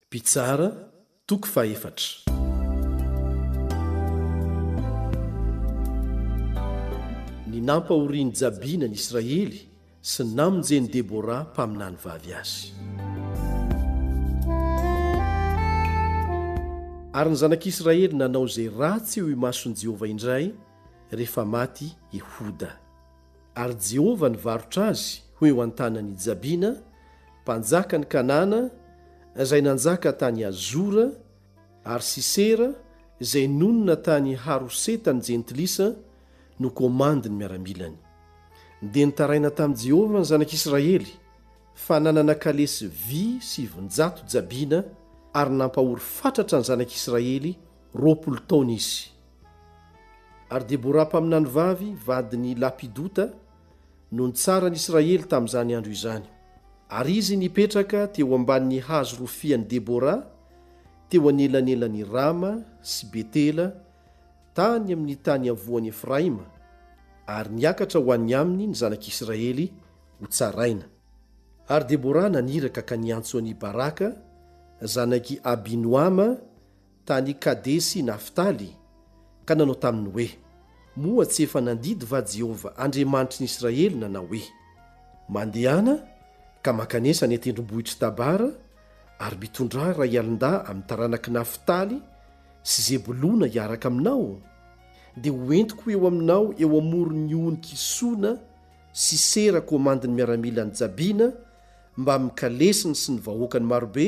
Mpitsara, toko fahefatra. Ny nampahorian'i Jabina ny Israely sy namonjen'i Debora mpaminany vavy azy. Ary ny zanak'Israely nanao izay ratsy eo imason'i Jehovah indray rehefa maty Ehoda. Ary Jehovah nivarotra azy ho eo an-tanan' i Jabina, mpanjakan' ny Kanana, izay nanjaka tany Hazora, ary Sisera, izay nonina tany Haroseta ny Jentilisa, no komandin' ny miaramilany. Dia nitaraina tamin'i Jehovah ny Zanak' Isiraely, fa nanana kalesy vy sivinjato jabina, ary nampahory fatratra ny Zanak' Isiraely roapolo taona izy. Ary Deborah mpaminany vavy, vadin' i Lapidota, no nitsaran' ny Israely tamin' izany andro izany. Ary izy nipetraka teo ambanin' ny hazo rofian' i Deborah, teo anelanelan' i Rama sy Betela, tany amin' ny tany iavoan' i Efraima, ary niakatra ho any aminy ny Zanak' Israely hotsaraina. Ary Deborah naniraka ka niantso an' i Baraka, zanak' i Abinoama, tany Kadesy i Naftaly, ka nanao taminy hoe, Moa tsy efa nandidy va Jehovah Andriamanitry ny Israely nanao hoe, Mandehana ka mankanesa any an-tendrombohitr'i Tabara, ary mitondrà iray alin-dahy amin'ny taranak'i Naftaly sy Zebolona hiaraka aminao? Dia hoentiko eo aminao eo amoron'ny ony Kisona Sisera komandin'ny miaramilan'i Jabina mbamin'ny kalesiny sy ny vahoakany marobe,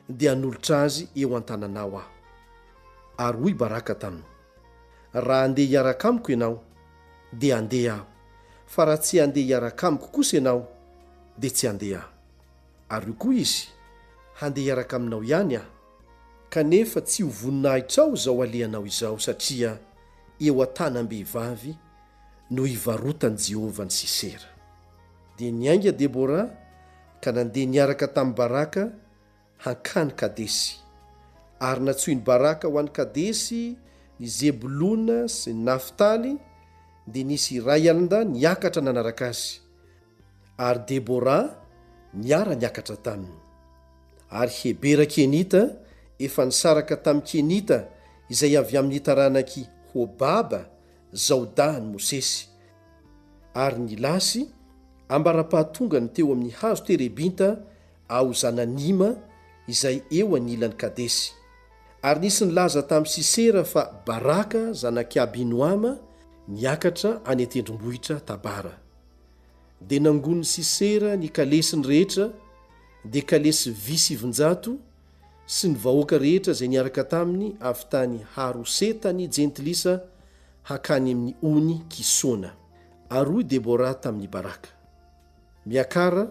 dia hanolotra azy eo an-tananao aho. Ary hoy Baraka taminy, Raha handeha hiaraka amiko ianao, dia handeha aho, fa raha tsy handeha hiaraka amiko kosa ianao, dia tsy handeha aho. Ary hoy koa izy, Handeha hiaraka aminao ihany aho, kanefa tsy ho voninahitrao izao alehanao izao, satria eo an-tanam-behivavy no hivarotan'i Jehovah an'i Sisera. Dia niainga Debora ka nandeha niaraka tamin'i Baraka hankany Kadesy. Ary nantsoin'i Baraka ho any Kadesy ny Zebolona sy ny Naftaly, dia nisy iray alnda niakatra nanaraka azy, ary Debora niara-niakatra taminy. Ary Hebera Kenita efa nisaraka tamin'ny Kenita izay avy amin'ny taranak'i Hobaba, zaodà an'i Mosesy. ary ny lasy ambara-pahatongany teo amin'ny hazo terebinta ao Zananima izay eo anilan'i Kadesy. Ary nisy nilaza tamin'i Sisera fa Baraka zanak'i Abinoama niakatra any an-tendrombohitra Tabara. Dia nangonin'i Sisera ny kalesiny rehetra, dia kalesy vy sivinjato, sy ny vahoaka rehetra izay niaraka taminy avy tany Haroseta ny Jentilisa, hakany amin'ny ony Kisona. Ary hoy Debora tamin'i Baraka, Miakara,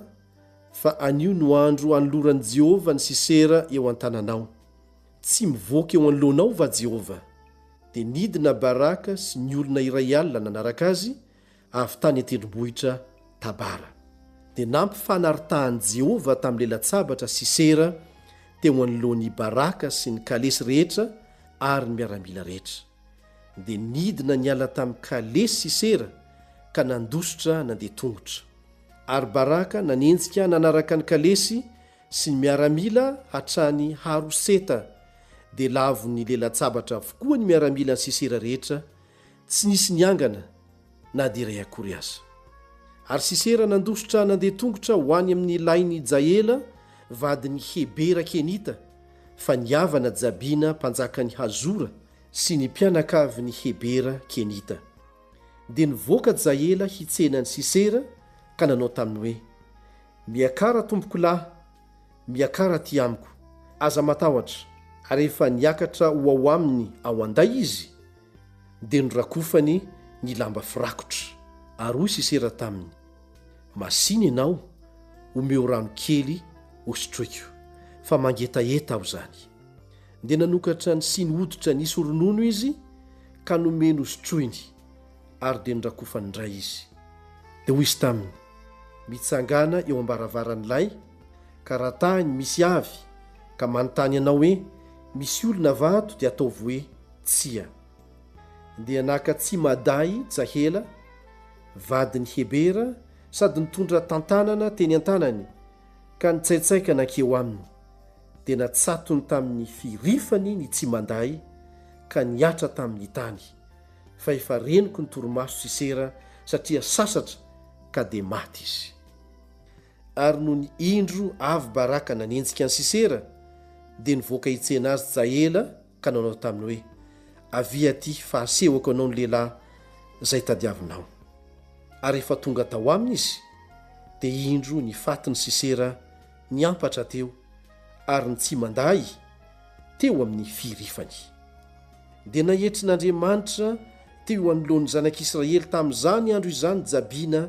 fa anio no andro anoloran'i Jehovah ny Sisera eo an-tananao. Tsy mivoaka eo anoloanao va Jehovah? Dia nidina Baraka sy ny olona iray alina nanaraka azy avy tany an-tendrombohitra Tabara. Dia nampifanaritahan'i Jehovah tamin'ny lelan-tsabatra Sisera teo anoloan'i Baraka sy ny kalesy rehetra ary ny miaramila rehetra. dia nidina niala tamin'ny kalesy i Sera ka nandositra nandeha tongotra. Ary Baraka nanenjika nanaraka ny kalesy sy ny miaramila hatrany Haroseta, dia lavon'ny lelan-tsabatra avokoa ny miaramilan'i Sisera rehetra, tsy nisy niangana na dia iray akory aza. Ary Sisera nandositra nandeha tongotra ho any amin'ny lahin'i Jaela, vadin'i Hebera Kenita, fa ny havana Jabina mpanjakan'i Hazora sy ny mpianakavin'i Hebera Kenita. Dia nivoaka Jaela hitsena an'i Sisera ka nanao taminy hoe, Miakara tompoko lahy, miakara aty amiko, aza matahotra. Ary rehefa niakatra ho ao aminy ao an-day izy, dia norakofany ny lamba firakotra, ary hoy Sisera taminy, Masìna ianao, omeo rano kely hosotroiko, fa mangetaheta aho izany. Dia nanokatra ny siny hoditra nisy ronono izy ka nomeny hosotroiny, ary dia norakofany indray izy. Dia hoy izy taminy, Mitsangàna eo am-baravaran'ilay Ka raha tany misy avy ka manontany anao hoe misy olona va ato dia ataovy hoe tsia. Dia naka tsy Madai Tsahela, vadin'i Hebera sady nitondra tantanana teny an-tanany ka nitsaitsaika nankeo aminy. Dia natsatony tamin'ny firifany ny tsy Madai ka nihatra tamin'ny tany. Fa efa renoky ny torimaso Sisera satria sasatra ka dia maty izy. ary nony indro avy Baraka nanenjika an'i Sisera, dia nivoaka hitsena azy Jaela ka nanao taminy hoe, Avia aty fa hasehoko anao ny lehilahy izay tadiavinao. Ary rehefa tonga tao aminy izy, dia indro ny fatin'i Sisera niampatra teo ary ny tsi-mandahy teo amin'ny firifany. Dia naetrin'Andriamanitra teo anoloan'ny zanak'Israely tamin'izany andro izany Jabina